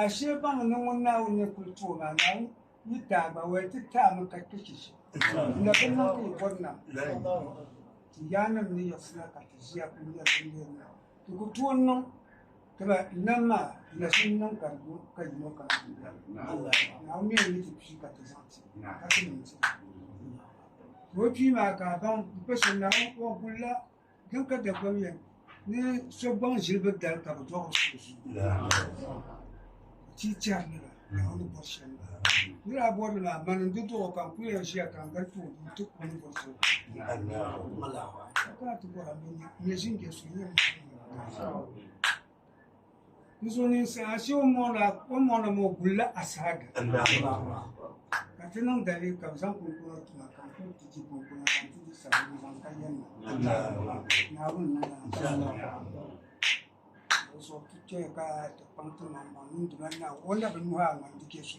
Ashee baŋ ni ŋun Naawuni ni kul ti o maa, Naawuni yi daa gba wali ti ti a mi ka kpe chichi, n na bi niŋ ka yi bɔri nam. Ti yaannim ni yiɣisina ka ti ʒiya kul nya bindeer maa, ti ku tooi niŋ dama nam maa di na shini niŋ ka di lu ka yino kana ti bela ni. Naawuni mi n-yi ti kpi ka ti zaŋ ti, ka ti niŋ ti ni. Ti o kpi maa ka a baŋ m-pa shɛli Naawuni wɔhu gul la. Dini ka Dagbam yɛli, Ni so gbaŋ zilibiri dali ka bɛ dɔɣi o so zuyu, o ti tɛri nira ka o ni bɔri shɛm maa. Nira a bɔri li maa, mani n-di dɔɣi o ka n kul yɛn ʒiya ka n gari tooi duu ti ku o ni bɔri so zuyu. Ka kana ti bɔra, m mi n-nyɛ ʒinjɛ so, n-nyɛ m ba ni n-nyɛ m ba so. N zo ninsi ashe o mɔna maa o gulila asahaga ka ti niŋ dali ka bi zaŋ kunkuna tuma ka n kuli ti di kunkuna ka n ti di sabbu zaŋ ka yɛn na naawuni na o so ti tɔya ka ti kpaŋ ti maŋ maŋ niŋ di mali naa o na bi nuhi a ŋan di kɛ so